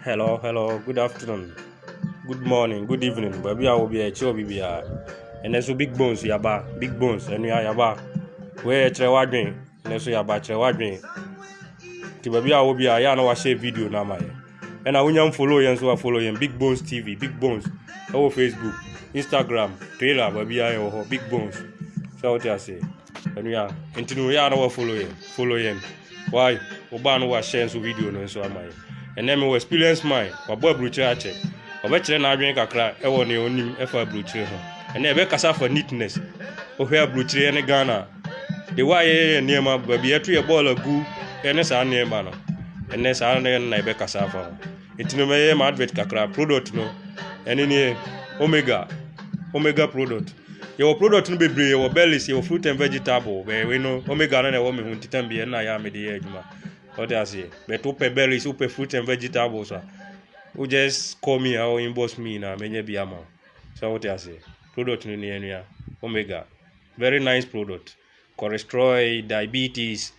Hello, hello, good afternoon, good morning, good evening. Baabi a wɔ bi a ɛkyerɛ obi biara. Ɛnɛ so big bones yaba, big bones ɛnua yaba. Wei ɛkyerɛ wadwen, ɛnɛ so yaba kyerɛ wadwen. Ti baabi a wɔ bi a yɛ a na wahyɛ video na ama yɛ. Ɛna wonya follow yɛn so a follow yɛn big bones tv, big bones. Ɛwɔ facebook, instagram, trailer baabi a yɛ wɔ hɔ big bones. Sɛ wote aseɛ. Ɛnua, nti no yɛ a na wa follow yɛn, follow yɛn. Why? Wo baa no wa share nso video no nso ama yɛn. Ɛnɛ mi wɔ experience mine, wa bɔ aburukyerɛ akyɛ. Ɔbɛ kyerɛ n'adwene kakra ɛwɔ nea onim ɛfa aburukyerɛ ho. Ɛnɛ ɛbɛ kasa fa neatness. Wohwɛ aburukyerɛ ne Ghana. De wa yɛ yɛ nneɛma, baabi ɛto yɛ bɔɔl agu, ɛne saa nneɛma no. Ɛnɛ saa na ɛna ɛbɛ kasa afa ho. Nti no mɛyɛ ma advert kakra, product no. Ɛne nie, Omega, Omega product. Yɛwɔ product no bebree, yɛwɔ bellies, yɛwɔ fruit and vegetable, bɛyɛ wei no, omega no na ɛwɔ me ho ntitam bi, ɛna yɛ a mede yɛ adwuma. Ɔde aseɛ. But wopɛ bellies, wopɛ fruit and vegetables a, wo just call me or inbox me na menya bi ama wo. So wote aseɛ. Product no ni anua, omega. Very nice product. Cholesterol, diabetes,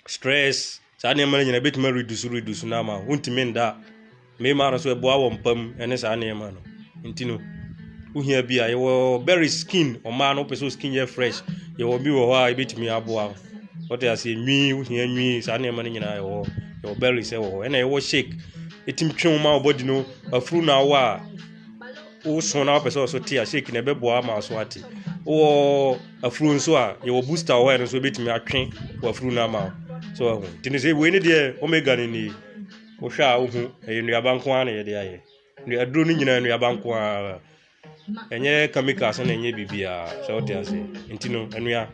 stress, saa nneɛma no nyinaa ɛbɛtumi aredusu redusu no ama wontumi nda a mmarima no nso ɛboa wɔn mpa mu ɛne saa nneɛma no nti no wohia bi a yɛwɔ berry skin ɔmaa no wopɛ sɛ skin yɛ fresh yɛwɔ bi wɔ hɔ a ɛbɛtumi aboa wo wɔte aseɛ nwi wohia nwi saa nneɛma no nyinaa ɛwɔ hɔ yɛwɔ berries ɛwɔ hɔ ɛna yɛwɔ shake ɛtumi twe wo ma wo body no afuru na awa a woso na wopɛ sɛ ɔso te a shake na ɛbɛboa ama aso ate wɔ afuru nso a yɛwɔ booster wɔ hɔ a ɛno nso ɛbɛtumi atwe wɔ afuru no ama so ahu nti ne sɛ wei ne deɛ omega no ni wohwɛ a wohu ɛyɛ nnuaba nko ara na yɛde ayɛ aduro no nyinaa nnuaba nko ara ɛnyɛ chemicals na ɛnyɛ biribiara sɛ wote ase nti no anua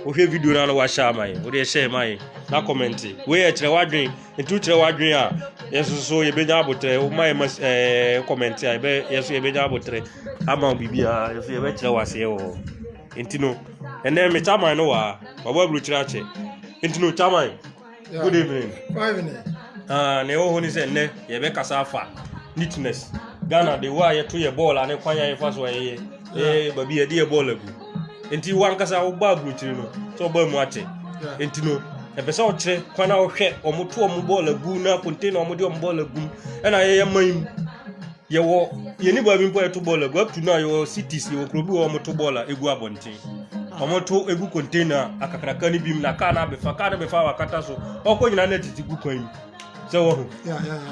wohwɛ video na na wahyɛ ama yɛ wode ɛhyɛ ma yɛ na kɔmɛnte wei yɛ kyerɛ wadwen nti wokyerɛ wadwen a yɛso so yɛbɛnya abotrɛ woma yɛ ma ɛɛ kɔmɛnte a yɛbɛ yɛso yɛbɛnya abotrɛ ama wo biribiara yɛso yɛbɛkyerɛ wo aseɛ wɔ hɔ nti no ɛnɛ me kyaman no wɔ ha wabɔ aburokyerɛ akyɛ nti no kyaman good evening ah, na ɛwɔ hɔ ne sɛ nnɛ yɛbɛkasa afa neatness ghana de wo a yɛto yɛ bɔɔl ane kwan a yɛfa so ɛyɛ eh, baabi yɛde yɛ bɔɔl agu nti wankasa wobɔ aburokyiri no sɛ ɔbaa mu akyɛ nti no ɛpɛ sɛ ɔkyerɛ kwan a ɔhwɛ ɔmoto ɔmo bɔɔl agu na container ɔmode ɔmo bɔɔl agu ɛna yɛyɛ man mu Yɛwɔ yɛn nibaa bi mpo a yɛto bɔɔl agu up to now yɛwɔ cities yɛwɔ kuro bi wɔ wɔn to bɔɔl a egu abɔnten wɔn to egu container akakraka no bi mu na kaa no abɛfa kaa no bɛfa wakata so ɔkɔ nyinaa na titi gu kwan mu sɛ wɔ ho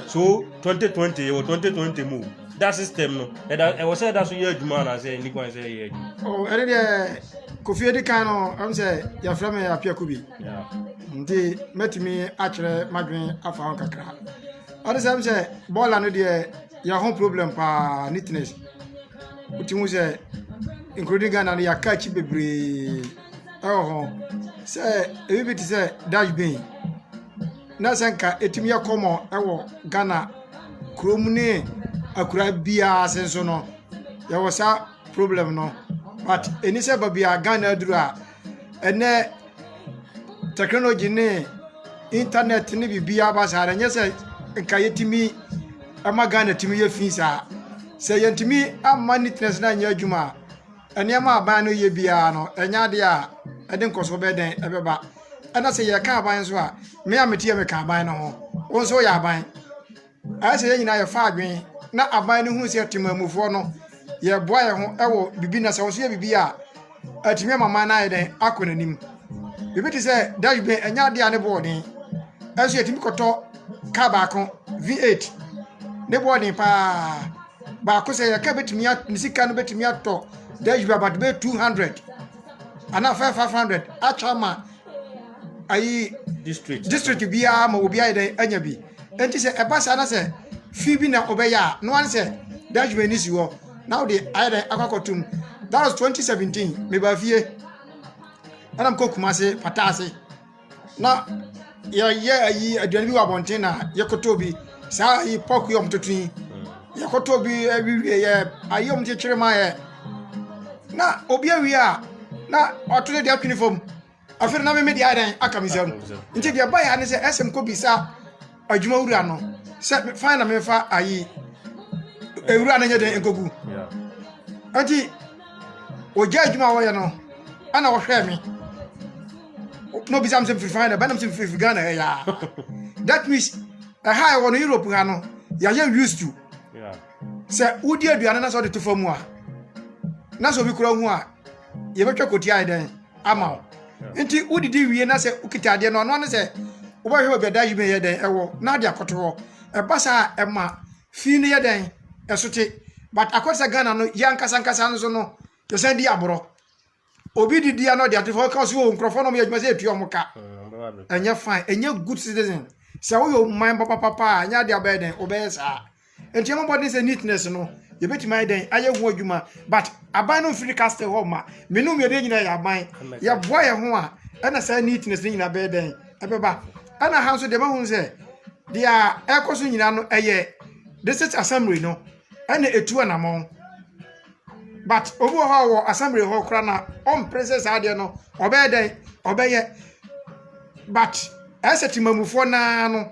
so 2020 yɛwɔ 2020 mu da system no ɛda ɛwɔ sɛ ɛda so yɛ adwuma anaasɛ ɛni kwan sɛ ɛyɛ adwuma. ɛne deɛ kofi edi kan no ɛmu sɛ yɛfrɛ mi apiako bi nti mɛtumi akyerɛ madwene afa ho kakra. Ade sɛ sɛ bɔɔla no deɛ yɛ ho problem paa neatness wotu hu sɛ including Ghana no yɛaka akyi bebree ɛwɔ ho sɛ ebi bi te sɛ dash bin na sɛ nka etumi yɛ kɔmɔ ɛwɔ Ghana kurom ne akura biara ase nso no yɛwɔ saa problem no but ɛni sɛ baabi a Ghana aduru a ɛnɛ technology ne internet ne biribiara ba saa no ɛnyɛ sɛ nka yɛtumi ɛma Ghana tumi yɛ fii saa sɛ yɛntumi amma neatness no anyɛ adwuma a nneɛma a aban no yɛ biara no ɛnyɛ adeɛ a ɛde nkɔsoɔ bɛyɛ dɛn ɛbɛba ɛna sɛ yɛka aban nso a me a mete yɛ meka aban no ho wo nso woyɛ aban Ayɛ sɛ yɛn nyinaa yɛfa adwene na aban no hu sɛ temanmufoɔ no, yɛboa yɛn ho wɔ biribi na sɛ wɔso yɛ biribi a, atumi ama man no ayɛ dɛn akɔ n'anim. Biribi te sɛ dabi bɛn ɛnyɛ adeɛ a ne boɔden ɛso yɛtumi kɔtɔ kaa baako V8 ne boɔden paa baako sɛ yɛka bɛtumi ne sika no bɛtumi atɔ dabi bɛbɛ 200 anaa 500 atwa ma ayi district biara ma obi ayɛ dɛ anya bi nti sɛ ɛba saa na sɛ fi bi na ɔbɛyɛ a no one sɛ dutchman ni si hɔ na ɔde ayɛ dɛ akɔkɔtum that was 2017 meba fie ɛna mkɔ kuma se pata ase na yɛyɛ ayi aduane bi wɔ abɔnten na yɛkɔtɔ bi saa ayi pɔk yɛ ɔmo toto yi yɛkɔtɔ bi awiwie yɛ ayi ɔmo kyekyere ma yɛ na obi awie a na ɔto ne deɛ twene fam afei na meme deɛ ayɛ dɛn aka me nsam nti deɛ ɛba yɛ ne sɛ ɛsɛm kɔ bisa adwuma wura no sɛ fan na mefa ayi ewura no nyɛ dɛn nkɔgu nti ogya adwuma a wɔyɛ no ɛna ɔhwɛɛ me na obisa me sɛ mfiri fan dɛ bɛnam sɛ mfiri ghana ha yaa that means ɛha a ɛwɔ no europe ha no yɛayɛ used to sɛ wodi aduane na sɛ ɔde to fa mu a na sɛ obi kura hu a yɛbɛtwa kɔti ayɛ dɛn ama wo nti wodidi wie na sɛ wokita adeɛ no ɔno ne sɛ wobɛhwɛ obi ada yi meyɛ dɛn ɛwɔ na ade akɔto hɔ ɛba saa ɛma Fee no yɛ dɛn? Ɛso te. But akɔ te sɛ Ghana no, yɛn ankasa ankasa no so no, yɛsan di aborɔ. Obi di deɛ no ɔde ato fam, ɔka ɔsi o nkurɔfoɔ na wɔyɛ adwuma sɛ etua wɔn ka. Ɛnyɛ fine, ɛnyɛ good citizen. Sɛ woyɛ ɔman papapapa a, ɛnyɛ adeɛ abɛyɛ dɛn, ɔbɛyɛ saa. Nti ɛmɔ bɔden sɛ neatness no, yɛbɛtumi ayɛ dɛn, ayɛ ho adwuma. But aban no mfiri castle hɔ ma. Me no mmienu nyinaa yɛ aban. Yɛboa yɛn ho a, ɛna saa neatness no nyinaa bɛyɛ dɛn. ɛbɛba ɛna ha nso deɛ mahu sɛ deɛ ɛkɔ so nyinaa no ɛyɛ district assembly no ɛna etu anamɔn but obi wɔ hɔ a wɔ assembly hɔ koraa na ɔmpere sɛ saa deɛ no ɔbɛyɛ dɛn ɔbɛyɛ but ɛsɛ temamufoɔ naa no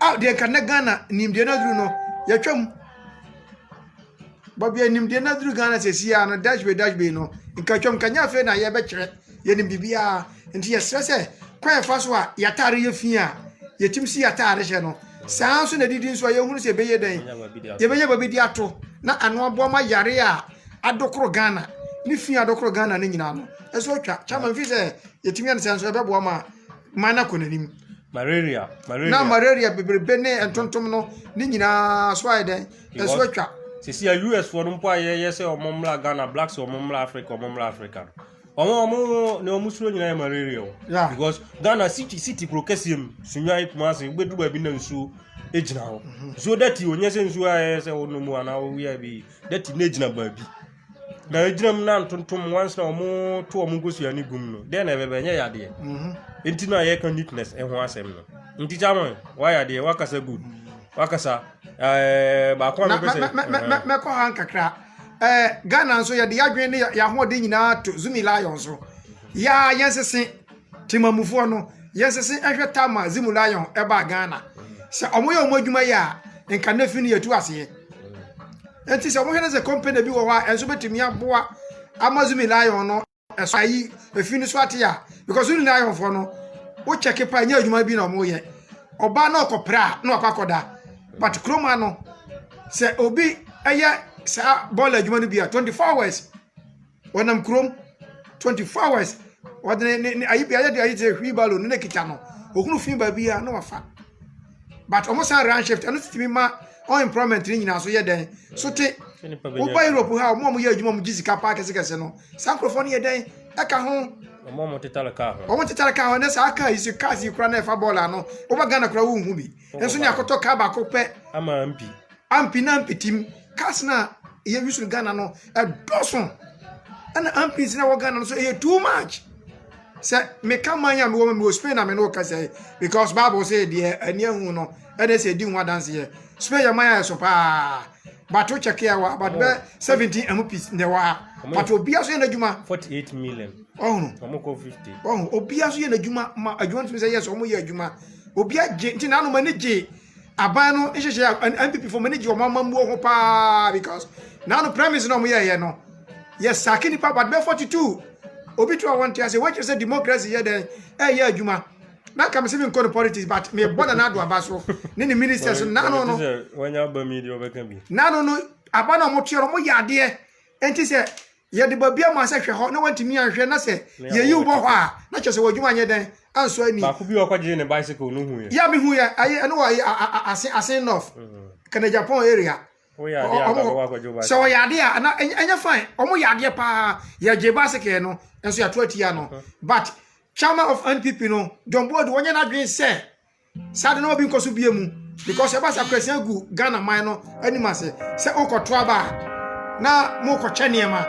a deɛ nka na ghana nimdeɛ no aduru no yɛtwa mu bɔbia nimdeɛ no aduru ghana sɛ siaa no dash bay dash bay no nka twam nka nyɛ afei na yɛbɛkyerɛ yɛnim biribiaa nti yɛserɛ sɛ kwan ɛfa so a yɛataare yɛ fi a yɛtim si yɛataare hyɛ no saa nso na didi nso a yɛhunu sɛ ɛbɛyɛ dɛn yɛbɛnya ba bɛdi ato na ano aboa ma yare a adokoro ghana ne fi adokoro ghana no nyinaa no ɛso atwa kyama mfi sɛ yɛtumi ɛne sɛ nso ɛbɛboa ma Ma no akɔ n'anim. Malaria, malaria. Na malaria bebrebe ne ntontom no ne nyinaa so ayɛ dɛn? Ɛso atwa. Sisi a US foɔ no mpo a yɛyɛ sɛ wɔn mmra Ghana, blacks wɔn mmra Africa, wɔn mmra Africa. Wɔn a wɔn ne wɔn suro nyinaa yɛ malaria o. Yeah. Because Ghana city city kuro kɛseɛ mu sunwan kuma ase wobɛdu baabi na nsuo gyina hɔ. Mhm. Nsuo dɛti o nyɛ sɛ nsuo a yɛyɛ sɛ wɔnom anaa wɔwia bi dɛti na gyina baabi. na egyina mu na ntontom once na wɔn to wɔn nkosua ne gum no dɛn na ɛbɛbɛ ɛnyɛ yadeɛ mhm. nti na yɛka neatness ɛho asɛm no nti kyamɔn wayɛ adeɛ wakasa good wakasa ɛɛ baako a mepɛ sɛ mɛkɔ ha nkakra ɛɛ ghana nso yɛde yɛadwene ne yɛahoɔden nyinaa to zumi lion so yɛa yɛnsese Temamufoɔ no, yɛnsese nhwɛ Tamar Zimu Lion ɛbaa Ghana. Sɛ ɔmo yɛ ɔmo adwuma yɛ a, nka nnɛ fi no yɛtu aseɛ. Nti sɛ ɔmo hwɛ no sɛ company bi wɔ hɔ a ɛnso bɛtumi aboa ama Zumi Lion no ɛso ayi efi no so ate a, because Zumi Lion foɔ no, wo kyɛke pa ɛnyɛ adwuma bi na ɔmo yɛ. Ɔbaa na ɔkɔpra a, na wakɔ akɔda. But kurom ha no, sɛ obi ɛyɛ saa bɔɔla adwuma no bi a, 24 hours. ɔnam kurom twenty four hours ɔde ne ne ne ayi bi ayɛ de ayi sɛ wheelbarrow ne na kita no ohunu fi baabi a na wafa but wɔn san run shift ɛno so tumi ma unemployment ne nyinaa so yɛ dɛn so te woba europe ha wɔn a wɔyɛ adwuma wɔn gye sika paa kɛsekɛse no saa nkurɔfoɔ no yɛ dɛn ɛka ho wɔn a wɔtetare kaa ho wɔn tetare kaa ho ne saa kaa yi so cars yi kora na ɛfa bɔɔl ano woba ghana kora wohu bi nso ne akɔtɔ kaa baako pɛ ama ampi ampi na ampi tim cars na ɛyɛ use no ghana no ɛdɔso ɛna ampins na ɛwɔ ghana no so ɛyɛ too much sɛ meka man a mewɔ mewɔ spain na me ne wo kasa yi because bible sɛ deɛ ani ahu no ɛne sɛ ɛdi ho adanseɛ spain yɛ man a ɛso paa bato kyɛke a wɔ ha bato bɛ 17 amu pis na ɛwɔ ha but obia so yɛ n'adwuma 48 million ɔhunu ɔmo kɔ 50 ɔhunu obia so yɛ n'adwuma ma adwuma no tumi sɛ yɛ sɛ ɔmo yɛ adwuma obi agye nti na anom ani gye aban no nhyehyɛ a npp fo mo ani gye wɔn amammuo ho paa because na ano premise na wɔn yɛɛyɛ no yɛ saki nipa but bɛ forty two obi to a wɔn te ase wɔkyerɛ sɛ democracy yɛ dɛn ɛyɛ adwuma na kàmi sɛ mi nkɔ no politics but mi bɔ na n'ado aba so ne ne ministers n'ano no n'ano no aba na wɔn tua no wɔn yɛ adeɛ. Enti sɛ yɛde babea maa sɛ hwɛ hɔ na wantumi anhwɛ na sɛ yeyi wo bɔ hɔ a, na kyerɛ sɛ w'adwuma anyɛ dɛn ansɔ ani. Baako bi a ɔkɔgyee ne bicycle no huiɛ. Yɛ a mehu yɛ ayi ɛno wɔ ayi ase ase north kana Japan area. Woyɛ adeɛ a baako akɔgye bicycle. Sɛ ɔyɛ adeɛ a na ɛnyɛ fine ɔmo yɛ adeɛ paa yɛgye bicycle no nso yɛato atia no but chairman of NPP no John Boadu wɔnyɛ n'adwene sɛ. Saa de na obi nkɔ so bie mu because ɛba sa kwasina gu Ghana man no anim ase sɛ wokɔto aba a na mokɔkyɛ nneɛma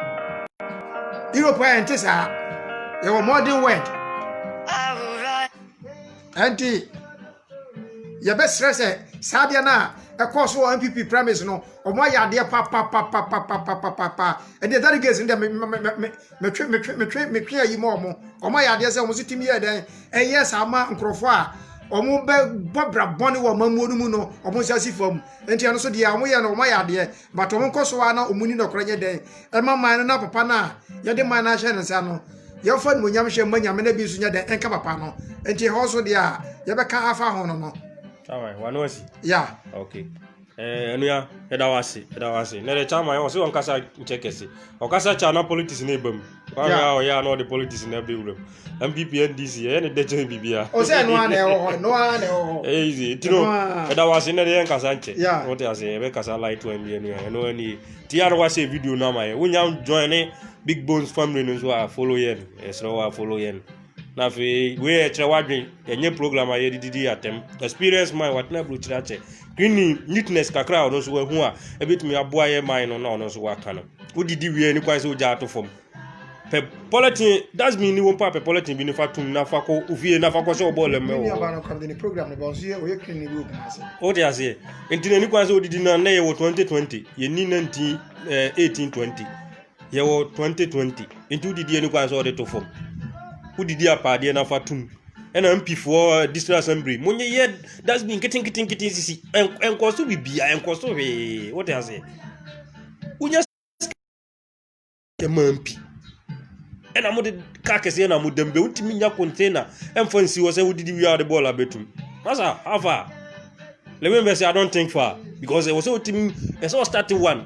Europe a ɛnte saa yɛwɔ modern word ɛnti yɛbɛsrɛ sɛ saa adeɛ no a ɛkɔɔ so wɔ npp premise no ɔmo ayɛ adeɛ papapapapapapapa ɛnti ɛda de gate no deɛ metwe metwe metwe metwe ayi ma ɔmo ɔmo ayɛ adeɛ sɛ ɔmo so tumi yɛ dɛn ɛyɛ saa ma nkurɔfoɔ a wɔn bɛ bɔ bra bɔne wɔ amammuo no mu no wɔn nsa si fam nti ɛno so deɛ wɔn yɛ no wɔn ayɛ adeɛ but wɔn nkɔ so a na wɔn ni nɔkorɛ nyɛ dɛn ɛma man no na papa no a yɛde man no ahyɛ ne nsa no yɛmfa animonyam hyɛ mma nyame no bi nso nyɛ dɛn ɛnka papa no nti ɛhɔ so deɛ a yɛbɛka afa ho no no Alright, wano asi. ya okay. Eh, anua, yɛda wo ase, yɛda wo ase. Na de chama yɛ ɔsɛ ɔnkasa nkyɛ kɛse. Ɔkasa kyɛ na politics na ebam. Kwame a ɔyɛ na ɔde politics na be wuram. MPP NDC yɛ ne dɛkyɛ bibia. Ɔsɛ no ana ɛwɔ hɔ, no ana ɛwɔ hɔ. Eh, easy. Tino, yɛda wo ase na de yɛ nkasa nkyɛ. Wote ase, yɛbɛ kasa light one bi anua. Ɛno ani. Ti ya no wase video no ama yɛ. Wonya join ne Big Bones family no so a follow yɛn. Ɛsrɛ wo a follow yɛn. Na afei wei yɛ kyerɛ wadwen ɛnyɛ program a yɛde didi atɛm experience mind watena aburokyire akyɛ greening neatness kakra a ɔno nso wahu a ɛbɛtumi aboa yɛ man no na ɔno nso waka no wodidi wie ne kwan sɛ wogya ato fam pɛ pɔlɛtin dasbin ni wɔn pa pɛ pɔlɛtin bi nifa tum nafa kɔ ofie nafa kɔ sɛ ɔbɔ lɛm mɛ wɔ o de aseɛ nti na ni kwan sɛ odidi na nnɛ yɛ wɔ twenty twenty yɛ ni nineteen eh, eighteen twenty yɛwɔ 2020 nti wodidi ani kwan sɛ wɔde to fam wodidi apaadeɛ no afa tom ɛna mpifoɔ district assembly monyɛ yɛ dustbin nketenketenkete sisi ɛnkɔ so bibia ɛnkɔ so hwee wote aseɛ wonya ɛma mpi ɛna mode ka kɛseɛ na modam bɛ wotumi nya container ɛmfa nsi hɔ sɛ wodidi wie a wode bɔɔl abɛtum masa afa lewin bɛsɛ i don't think far because ɛwɔ sɛ wotumi ɛsɛ wɔ start one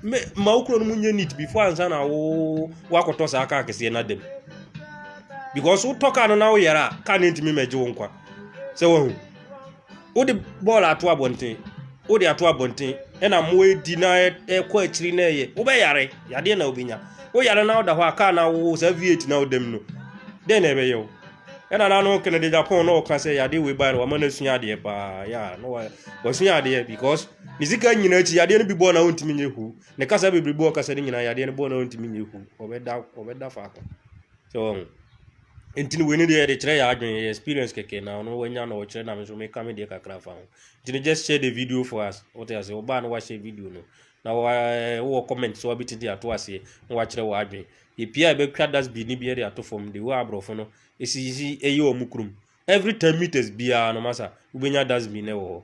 me ma wo kuro no mu nyɛ neat before ansa na wo wakɔtɔ saa kaa kɛseɛ no adam because wotɔ kaa no na woyɛrɛ a kaa no ntumi mɛgye wo nkwa sɛ wahu wode bɔɔl ato abɔnten wode ato abɔnten ɛna mmoa edi na ɛkɔ akyiri na ɛyɛ wobɛyare yadeɛ na wobɛnya woyare na woda hɔ a kaa na wo saa v8 na wodam no dɛn na ɛbɛyɛ wo ɛna na no kene de japan na ɔka sɛ yadeɛ wei bae no wama no asua adeɛ paa ya na wasua adeɛ because Ne sika nyinaa akyi, yadeɛ no bi bɔɔ na ɔntumi nyɛ hu. Ne kasa bebrebe bɔɔ kasa no nyinaa, yadeɛ no bɔɔ na ɔntumi nyɛ hu. Ɔbɛda ɔbɛda faako. Sɛ wɔn. Nti no wei ne deɛ yɛde kyerɛ yɛ adwene yɛ experience kɛkɛ na ɔno wanya na ɔkyerɛ na me nso meka me deɛ kakra fa ho. Nti no just share the video for us. Wote ase ɔbaa no wahyɛ video no. Na wa eh, wowɔ comment so wabɛtiti ato aseɛ na wakyerɛ wɔ adwene. Yɛpia a ɛbɛtwa dustbin no bi de ato fam de wɔ aborɔfo no ɛsisi ɛyɛ wɔn kurom. Every 10 meters biara no masa wobɛnya dustbin no wɔ hɔ.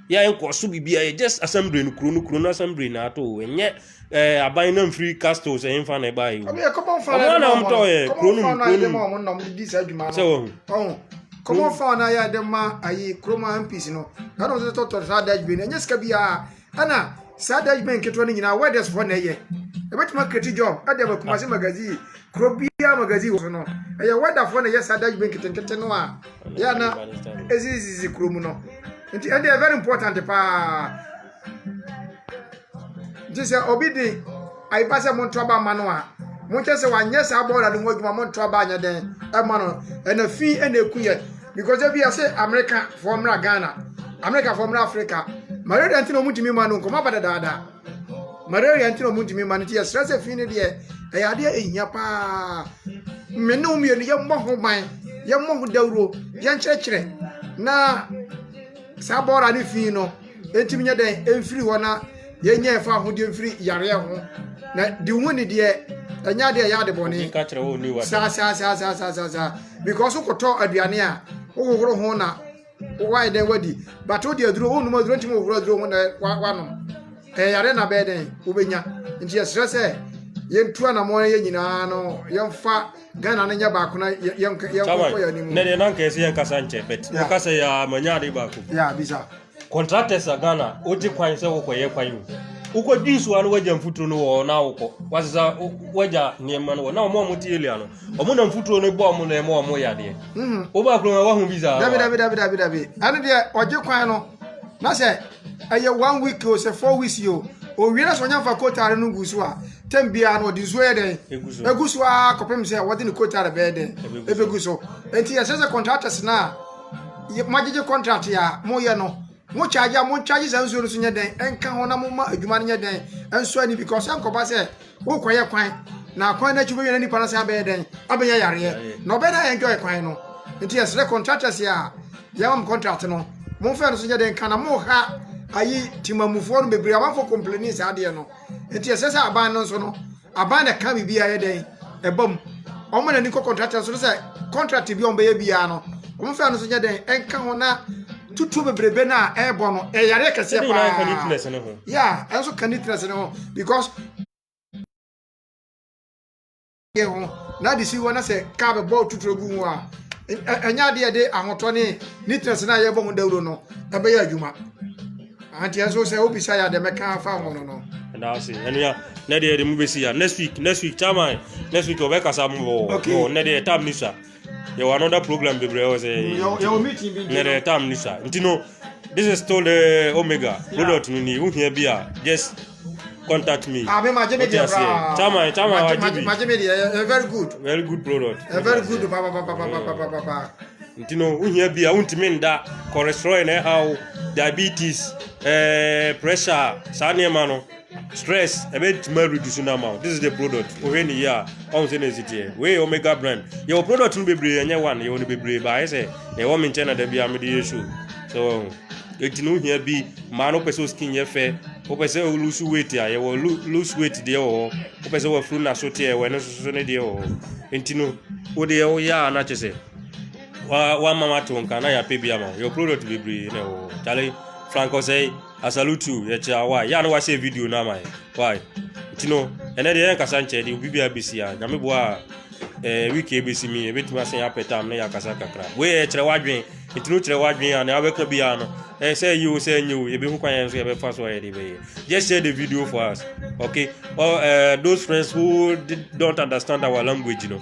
Yɛn kɔ so bibia yɛ just assembly no kuro no kuro no assembly na ato o ɛnyɛ ɛɛ aban na nfiri castles ɛyɛ nfa na ɛba yi o. Ɔmo yɛ common fan na ɛde ma ɔmo no common fan na ɛde ma ɔmo na ɔmo de di saa adwuma no ɔho common fan na yɛ ɛde ma ayi kurom MPs no ɛna ɔmo de tɔtɔ saa dashbin no ɛnyɛ sika biara ɛna saa dashbin nketewa no nyinaa welders fo na ɛyɛ ɛbɛtuma kreti job ɛde ama kumase magazine kuro biara magazine wɔ so no ɛyɛ weather fo na ɛyɛ saa dashbin nketenkete no a. yɛ na ɛsisisi kuro mu no nti ɛdeɛ very important paa nti sɛ obi de ayipa sɛ monto aba ma no a monkyɛ sɛ wanyɛ saa bɔɔla no ho adwuma monto aba anyɛ dɛn ɛma no ɛna fi ɛna ɛku yɛ because ebi yɛ sɛ amerika foɔ mmra ghana amerika foɔ mmra afrika ma yɛ dɛn ti na ɔmutumi ma no nkɔmɔ aba dadaada malaria nti na ɔmo ntumi mma no nti yɛsrɛ sɛ fi no deɛ ɛyɛ adeɛ ɛhia paa me ne wo mmienu yɛmmɔ ho ban yɛmmɔ ho dawuro yɛnkyerɛkyerɛ na saa bɔɔla ne fi no ɛntumi nyɛ dɛn ɛmfiri hɔ na yɛnyɛ ɛfa ahodeɛ mfiri yareɛ ho na de hu ne deɛ ɛnyɛ adeɛ ɛyɛ ade bɔne saa saa saa saa saa saa saa because wokɔtɔ aduane a wohohoro ho na Wowayɛ dɛn wadi? But wode aduro, wonnom aduro ntumi wohoro aduro ho na wanom. Ɛyɛ yare na bɛyɛ dɛn wobɛnya. Nti yɛsrɛ sɛ yɛntu anammɔn yɛ nyinaa no yɛmfa Ghana no nyɛ baako na yɛnkɔ yɛ anim. Na deɛ na nka ɛsɛ yɛnkasa nkyɛ but woka sɛ yɛ manya ade baako. Yeah, bisa. Contractors a Ghana wogye kwan sɛ wokɔyɛ kwan o. Wokɔdwi nsuo ano wagya mfuturo no wɔ na wokɔ. Wasesa wagya nneɛma no wɔ na wɔn a wɔte elia no wɔn na mfuturo no bɔ wɔn na ɛma wɔn yadeɛ mhm. wobɔ akoro ma wahu bi saa dabi dabi dabi dabi dabi ɛne deɛ ɔgye kwan no na sɛ ɛyɛ one week o sɛ four weeks o owie na sɛ ɔnya nfa kotare no gu so a tɛm biara no ɔde nsuo yɛ dɛn egu so aa kɔpem sɛ wɔde ne kotare bɛyɛ dɛn ebegu so eti yɛsɛ sɛ contractors na mo agyegye contract yɛ a mo yɛ no mo charge a mo charge saa nsuo no so nyɛ dɛn ɛnka ho na mo ma adwuma no nyɛ dɛn ɛnso ani because ɛnkɔba sɛ Worekɔyɛ kwan, na kwan no akyi wobɛhwɛ na nipa no san bɛyɛ dɛn? Abɛnya yareɛ. Na ɔbɛyɛ dɛn enjoy kwan no? Nti yɛsrɛ contractors a yɛma mo contract no, momfa ɛno nso nyɛ dɛn nka na moha ayi Temamufoɔ no bebree. Amanfoɔ complaini saa adeɛ no. Nti ɛsɛ sɛ aban no nso no, aban na ɛka biribi a ɛyɛ dɛn? Ɛba mu. Wɔma n'ani kɔ contractors no sɛ contract bi a wɔbɛyɛ biara no, wɔmfa ɛno nso nyɛ dɛn nka ho na tutuo bebrebe no a ɛrebɔ no ɛyare kɛseɛ paa ɛne nyinaa neatness no ho ya ɛnso ka neatness no ho because yɛ ho na ade si hɔ na sɛ kaa bɛbɔ tutuo gu ho a ɛnyɛ adeɛ de ahotɔ ne neatness no a yɛbɔ ho dawuro no ɛbɛyɛ adwuma anti ɛnso sɛ wobisa yɛ adeɛ mɛka afa ho no no daase ɛnua ne deɛ de mu bɛsi ya next week next week chairman next week ɔbɛkasa mu wɔ ne deɛ tam ne sua yɛwɔ another program bebree wɔ sɛ na the time ni sa nti no this is still the omega product no ni wohia bi a just contact me ah, wote aseɛ chama chama wagye bi very good very good product eh, very good nti no wohia bi a wontumi nda cholesterol na ɛhaw diabetes eh, pressure saa nneɛma no Stress ɛbɛtumi areduce no ama wo. This is the product. Wohwɛ ne yie a, ɔhu sɛ na ɛsi teɛ. Wei Omega brand. Yɛwɔ product no bebree ɛnyɛ one. Yɛwɔ no bebree baa ayɛ sɛ na ɛwɔ me nkyɛn na da biara mede yɛ show. So wɔn. Eti no hia bi. Mmaa no pɛ sɛ skin yɛ fɛ. Wopɛ sɛ lose weight a yɛwɔ lose weight deɛ wɔ hɔ. Wopɛ sɛ wafuru na so teɛ wɔ ɛno soso ne deɛ wɔ hɔ. Enti no wode yɛ wo yɛ a na kyɛ sɛ wa wa mama to nka na yɛapɛ bi ama wo. Yɛwɔ product bebree na ɛwɔ hɔ. Kyale frank ɔsɛe. I salute you, yɛkyerɛ why, yɛ a na wahyɛ video no ama yɛ, why? Nti no, ɛnɛ deɛ yɛnkasa nkyɛ deɛ obi biara bɛsi a, nyame boa a, eh, week a ɛbɛsi mi, ɛbɛtumi asɛ yɛ apɛ tam na yɛakasa kakra. Wei yɛ kyerɛ w'adwen, nti no kyerɛ w'adwen a, na wabɛka bi a no, eh, sɛ ɛyɛ o, sɛ ɛnyɛ o, yɛbɛhu kwan yɛn nso yɛbɛfa so a yɛde bɛyɛ. Just share the video for us, okay? Or, uh, those friends who did, don't understand our language, you know,